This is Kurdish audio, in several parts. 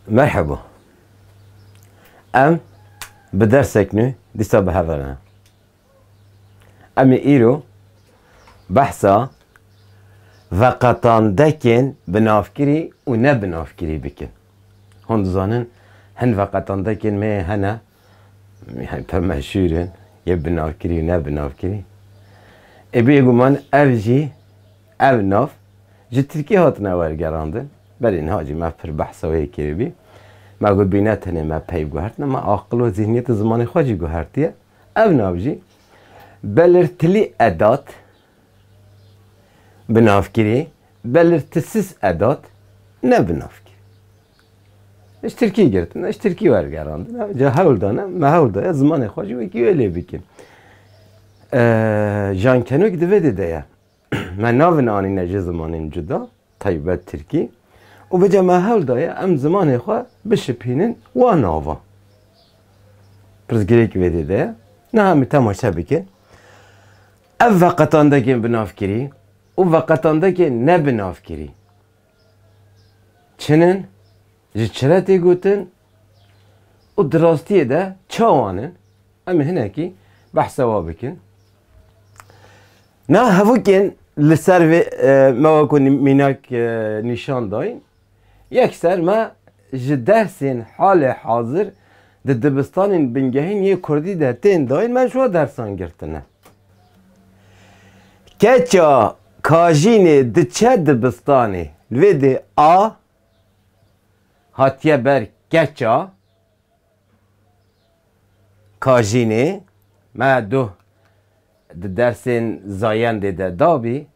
Merheba. Em bi dersek nû dîsa bi hev re ne. Em ê îro behsa veqetandekên binavkirî û ne binavkirî bikin. Hûn dizanin hin veqetandekên me hene Yan te meşhûr in, yê bi nav kirî û ne bi nav kirî. Ê bêguman ev jî, ev nav ji Tirkiyê hatine wergerandin. Belê niha jî me pir behsa wê kiribî. Me gotbî ne tenê me peyv guhertine, me aqil û zîhniyet û zimanê xwe jî guhertiye. Ev nav jî belirtilî edat, bi nav kirî, belirtisiz edat, ne bi nav kirî. Ji tirkî girtin e, ji tirkî wergerandin e, ca hewl dane me hewl daye zimanê xwe jî wekî wê lê bikin. Jan Kenûk di vê dê de ye. Me navin anîne ji zimanên cuda, taybet tirkî û bi ca me hewl daye em zimanê xwe bişipînin wan navan. Pirsgirêk vê dê de ye. Niha em temaşe bikin. Ev veqetandekên binavkirî û veqetandekên nebinavkirî Çin in, ji çi re tê gotin û di rastiyê de çawan in? Em ê hinekî behsa wan bikin. Na hevokên li ser vê me weko mînak nîşan dayîn. Yekser me ji dersên halê hazir di dibistanên bingehîn yê kurdî de tên dayîn me ji wan dersan girtine. Keça Kajînê diçe dibistanê. Li vê dê a hatiye ber keça kajînê. Me doh di dersên zayendê de dabî.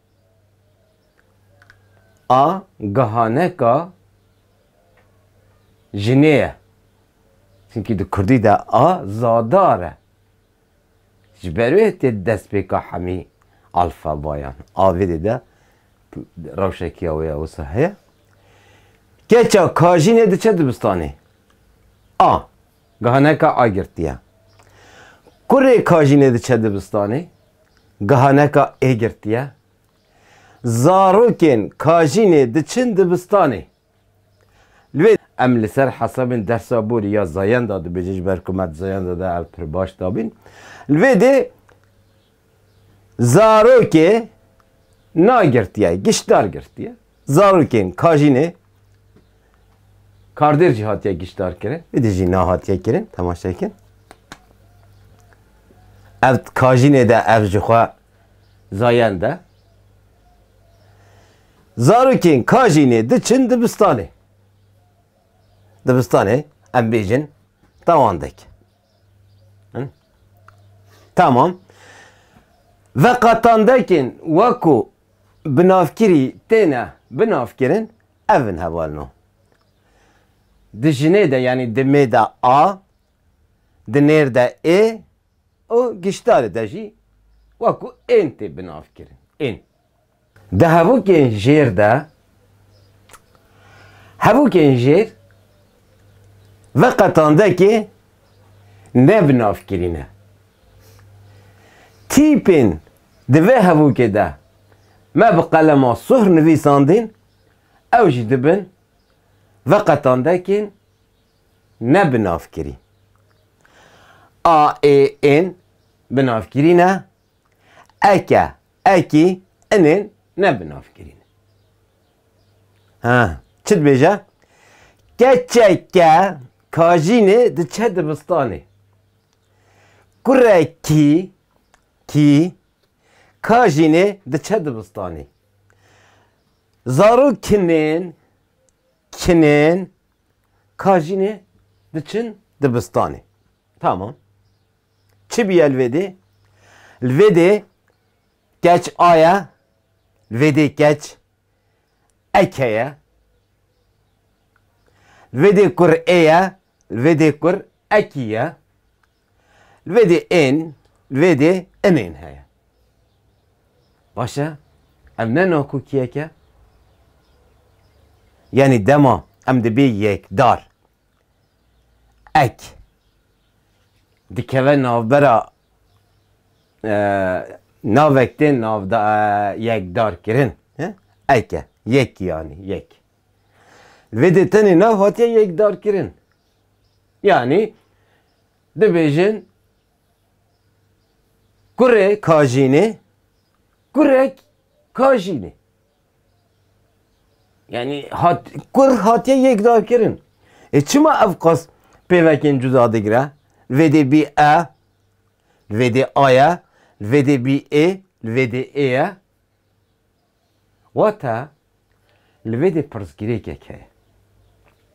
A gihaneka jinê ye. Çimkî di kurdî de a zadar e. Ji ber wê tê destpêka hemî alfabayan a vê dê de rewşeke ya wê ya wisa heye. Keça kajînê diçe dibistanê. A. Gihaneka A girtî ye. Kurê kajînê diçe dibistanê. Gihaneka E girtî ye. Zarokên kajînê diçin dibistanê. Lê em li ser hesabên dersa borî ya zayenda dibêjin ji ber ku me di zayenda de ev pir baş dabîn. Li vê dê zarokê na girtiye giştdar girtiye. Zarokên kajînê kardêr jî hatiye giştdar kirin. Vê dê jî na hatiye kirin temaşe bikin. Ev kajînê de ev ji xwe zayend e. Zarokên Kajînê diçin dibistanê. Dibistanê em bêjin tewandek. Tamam. Ve qatandekên weko binavkirî têne binavkirin ev in hevalno. Di jinê de yanî di mê de a, di nêr de ê û giştarê de jî weko ên tê binavkirin. Ên. Di hevokên jêr de hevokên jêr ve qetandekê ne bi nav kirîne. Tîpên di vê hevokê de me bi qelema suhr nivîsandîn ew jî dibin ve qetandekên ne bi nav kirîn. A, ê, ên bi nav kirîne Eke, ekî, inên ne bi navkirî ne. Ha, çi dibêje? Keçeke kajînê diçe dibistanê. Kurekî, kî, kajînê diçe dibistanê. Zarokinên, kinên, kajînê diçin dibistanê. Tamam. Çi bûye li vê dê? Li vê dê keç a ye, li vê dê keç ek heye. Li vê dê kur ê ye, li vê dê kur ekî ye. Li vê dê ên, li vê dê imên heye. Baş e? Ev ne nakokiyek e? Yanî dema em dibê yekdar. Ek. Dikeve navbera navek tên yekdarkirin. Ek e. Yek yanî yek. Li vê dê tenê nav hatiye yekdarkirin. Yanî dibêjin kurê kajînê kurek kajînê. Yani hat, kur hatiye yekdakirin. E çima ev qas pêvekên cuda digire? Vêdê bî e, vêdê aye, vêdê bî ê, vêdê ê ye. Wata, li vêdê pirsgirêkek heye.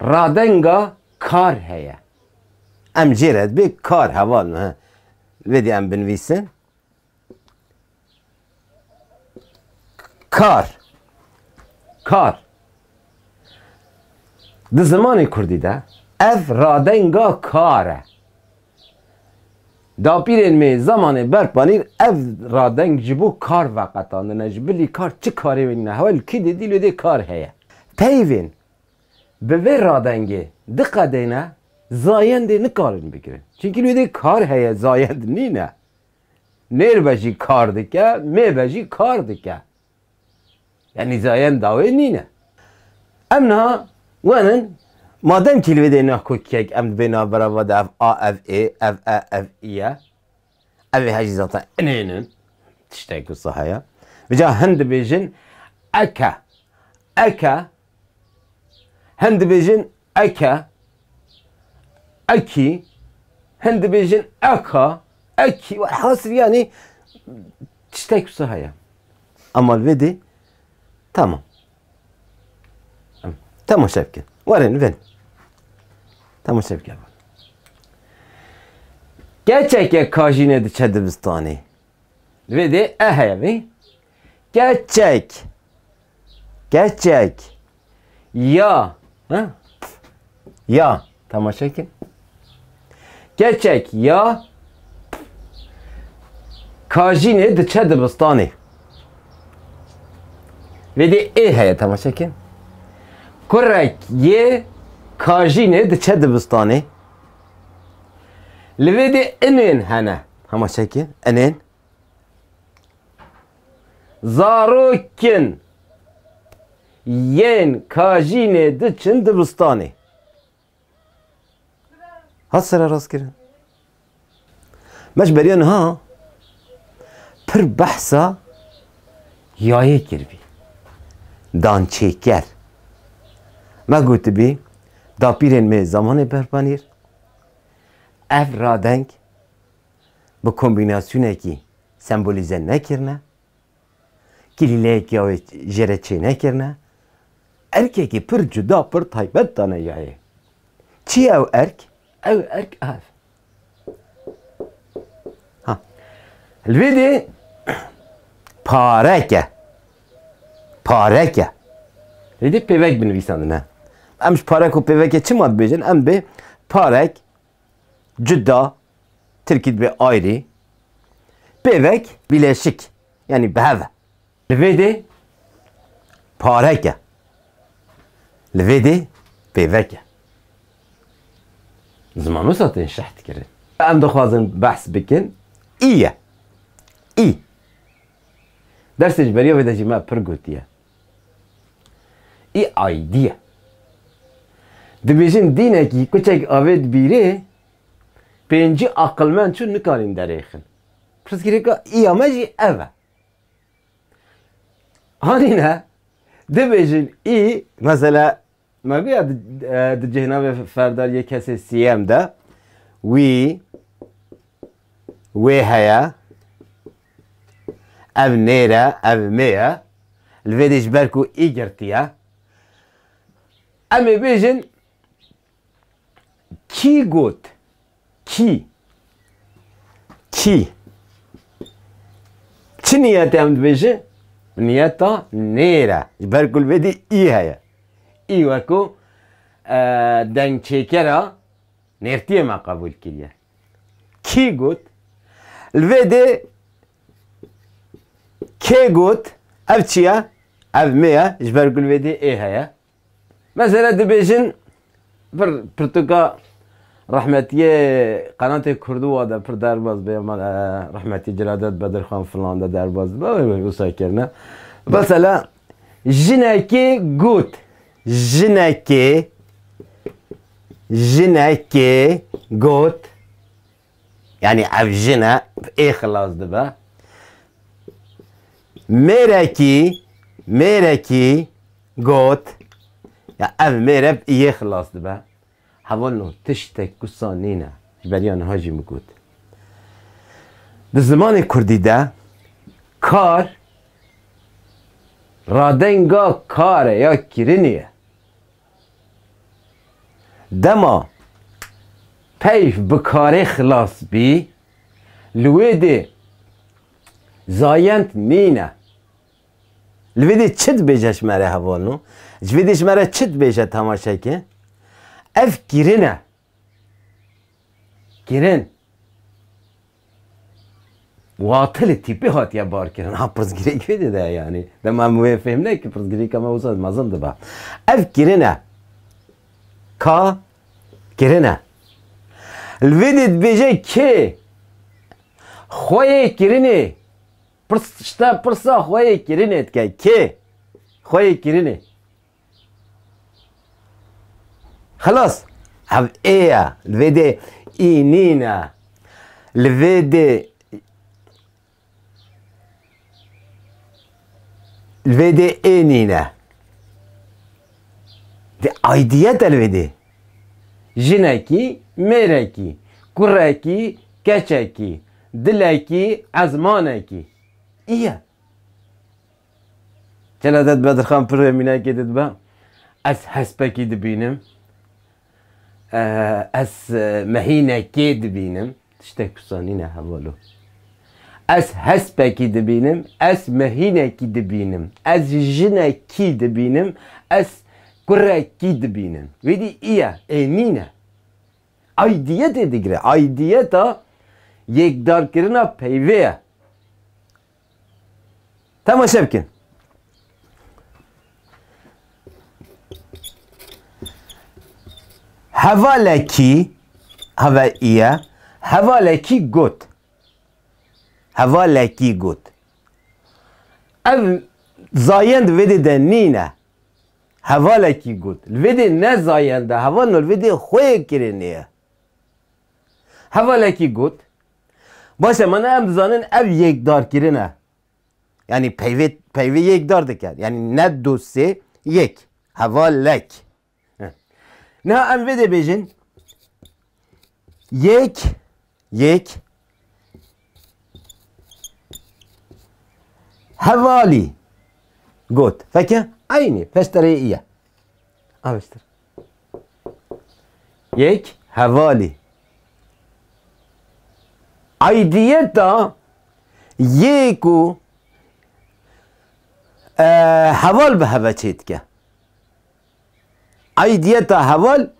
Radenga kar heye. Em jê re dibê kar heval me. Vê dê em binivîsin. Kar. Kar. Di zimanê Kurdî de ev radenga kar e. Dapîrên me yê zemanê ber panîr ev radeng ji bo kar veqetandine, ji bilî kar çi karê wê nîne, hewa li kî dê dî li dê kar heye. Peyvên bi vê radengê diqedêne zayendê nikarin bigirin. Çimkî li dê kar heye zayend nîne. Nêr be jî kar dike, mê be jî kar dike. Yanî zayend dawê nîn e. Em niha wan in madem kîlwêdê neh kokiyek em dibê navbera ve de ev a ev ê, ev e ev î ye. Ev ê hejî zatan inên in. Tiştek wisa heye. Bi ca hin dibêjin eke, eke Hin dibêjin eke, ekî, hin dibêjin eka, ekî hasil yanî tiştek wisa heye. Ema li vê dê tamam. Temaşe bikin. Werin li vê dê. Temaşe bikin. Keçeke kajîne diçe dibistanê. Li vê dê e heye vê. Keçek. Keçek. Ya. Ha? Ya. Tamaşa kin. Keçek ya kajînê diçe dibistanê. Vê dê ê heye temaşe kin. Kurek yê kajînê diçe dibistanê. Li vê dê inên hene. Hema çekê enên zarokin yên kajînê diçin dibistanê. Hat sere rast kirin. Meş beriyan ha pir behsa yayê kirvî. Dan çêker. Me gotibî dapîrên me zamanê berpanîr ev radeng bi kombînasyonekî sembolîze nekirine, kîlîleyekî wê jê re çênekirine, erkekî pir cuda, pir taybet dane yayê. Çi ye ew erk? Ew erk a ev. Ha. Li vê dê pareke, pareke. Li dê pêvek binivîsandine. Em ji parek û pêvekê çima dibêjin? Em dibê parek, Cudda, Tirkî dibe ayrı. Pêvek, bileşik, yanî bi hev e. Li vê dê parek e. Li vê dê pêvek e. Zimanosa tên şerh dikirin. Em dixwazin behs bikin î ye. Î. Dersên ji beriya vê de jî me pir gotiye. Î aîdî ye. Dibêjin dînekî kuçek avê dibîrê, pêncî aqilmend çû nikarîn derêxin. Pirsgirêka îya me jî ev e. Anîne dibêjin î mesela Ma viya di cihna vê ferda yê kesê siyem de wî wê heye ev nêre ev mê ye li vê dê ji ber ku î girtiye em ê bêjin kî got Kî? Kî? Çi niyetê em dibêje? Niyeta nêr e. Ji ber ku li vê dî î heye. Î weko dengçêkera nêrtiyê me qebûl kiriye. Kî got? Li vê dê kê got? Ev çi ye? Ev mi ye? Ji ber ku li vê dê ê heye. Mesela dibêjin pir pirtûka rehmetiyê qenatê kurdû wa de pir derbas be mal e rehmetî Celadet Bedirxan filan de derbas dibe wê wê wisa kirine. Mesela jinekê got jinekê jinekê got Yanî ev jin e ê xilas dibe. Mêrekî mêrekî got, Ya ev mêre bi yê xilas dibe. Hevalno tiştek wisa nîne. Ji beriya niha jî min got. Di zimanê kurdî de kar radenga kar e ya kirinî ye. Dema peyv bi karê xilas bî, li wê dê zayend nîne. Li vê dê çi dibêje ji me re hevalno? Ji vê dê ji me re çi dibêje temaşe ke? Ev kirin e, kirin. Watilê tîpê hatiye barkirin. Ha pirsgirêk wê dide yanî. Dema em wê fêm nekin pirsgirêka me wisa mezin dibe. Ev kirin e. Ka kirin e. Li vê dê dibêje kê xwe yê kirinê pirsa pirsa xwe yê kirinê dike. Kê xwe yê kirinê. Xelas hev ê ye li vê dê ê nîn e li vê dê li vê dê ê nîn e di aidiyet e li vê dê jinekî mêrekî kurekî keçekî dilekî ezmanekî î ye. Têna te dibe Dirxan pirrê mînakê te dibe ez hespekî dibînim ez mehînekê dibînim tiştek wisa nîne hevalo. Ez hespekî dibînim ez mehînekî dibînim ez jinekî dibînim ez kurekî dibînim wê dî îye ê nîne. Aydiyetê digire aydiyeta yêkdarkirina peyvê ye. Temaşe bikin. Hevalekî heve îye hevalekî got. Hevalekî got. Ev zayend vêdê de nîne. Hevalekî got. Li vêdê ne zayende heval li vêdê xwe yê kirinê ye. Hevalekî got, Baş e mana em dizanin ev yekdarkirin e. Yanî peyvê peyvê yekdar dike. Yanî ne du sê yek. Hevalek. Niha em vê dibêjin yek yek hevalî got. Feke eynî feşterê î ye. Avêştir. Yek hevalî. Aidiyeta yê ku heval bi heve çêdike. Aidiyeta heval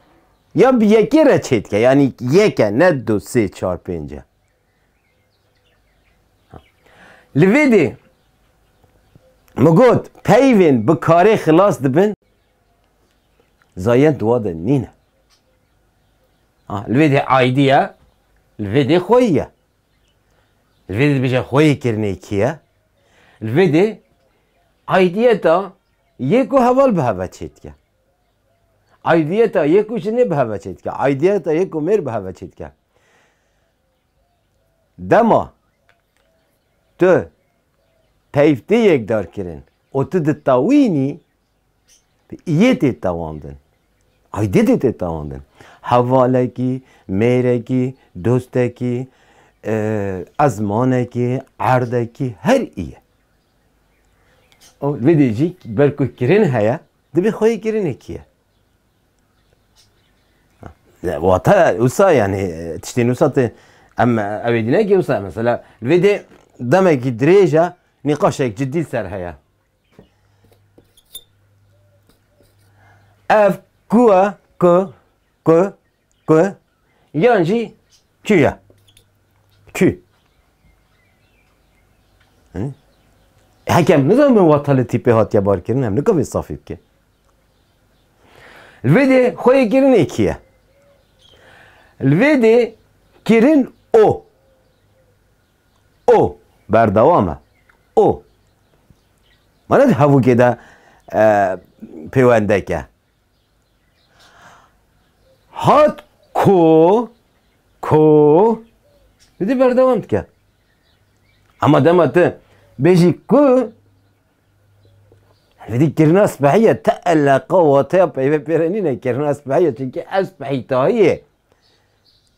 ya bi yekê re çêdike. Yanî yek e ne du sê çar pênc e. Li vê dê min got peyvên bi karê xilas dibin. Zayend di wa de nîne. Li vê dê aîdî ye, li vê dê xweyî ye. Li vê dê dibêje xweyîkirinê kî ye? Li vê dê aîdiyeta yê ku heval bi heve çêdike. Aîdiyeta yê ku jinê bi heve çêdike. Aîdiyeta yê ku mêr bi heve çêdike. Dema tu peyv tê yekdarkirin û tu ditewînî Yê tê tewandin. Aydidê tê tewandin. Hevalekî, mêrekî, dostekî, ezmanekî, erdekî her î ye. O vê dê jî ber ku kirin heye, dibê xwe yê kirinê kî ye. Wata wisa yani tiştên wisa tê em ew ê dî nekî wisa mesela vê dê demekî dirêj e nîqaşek cidî li ser heye. Ev ku e ku ku ku yan jî kü ye. Kü. Hekem nizan min watalê tîpê hatiye barkirin em nikavê safî bike. Li vê dê xwe yê kirin êkî ye. Li vê dê kirin o. O berdewam e. O ma ne di hevûkê de pêwendek e. Hat ko ko didî berdewam dike. Ema dema tu bêjî ku didî kirina spehî ye te eleqa wateya peyve pê re nîne kirina spehî ye çunkî ev spehî tahî ye.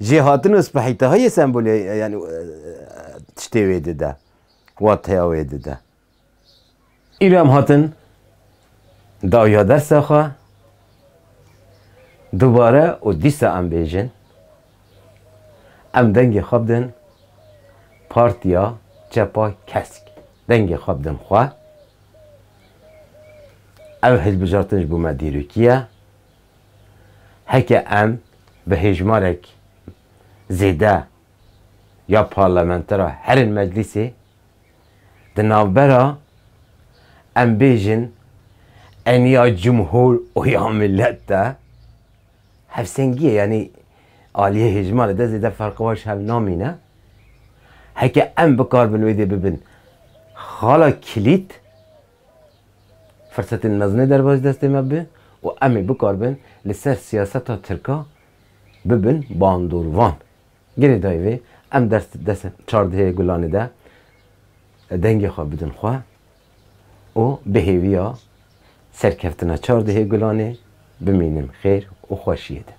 Jêhatin û spehîtaha yê sembolê yanî tiştê wê dide, wateya wê dide. Îro em hatin dawiya dersa xwe dubare û dîsa em bêjin em dengê xwe bidin Partiya Çepa Kesk. Dengê xwe bidin xwe. Ev hilbijartin ji bo me dîrokî ye. Heke em bi hêjmarek zêde ya parlamentera herên meclîsê di navbera em bêjin em ya cumhur û ya milet de hevsengiyê yanî aliyê hêjmarê de zêde ferqa wan ji hev namîne. Heke em bikarbin wê dê bibin xala kilît Firsetên mezin derbas destê me bi û em ê bikaribin li ser siyaseta tirka bibin bandorvan. Gelê dayê vê em dest dest çardehê gulanê de dengê xwe bidin xwe û bi hêviya serkeftina çardehê gulanê bimînin xêr û xweşiyê de.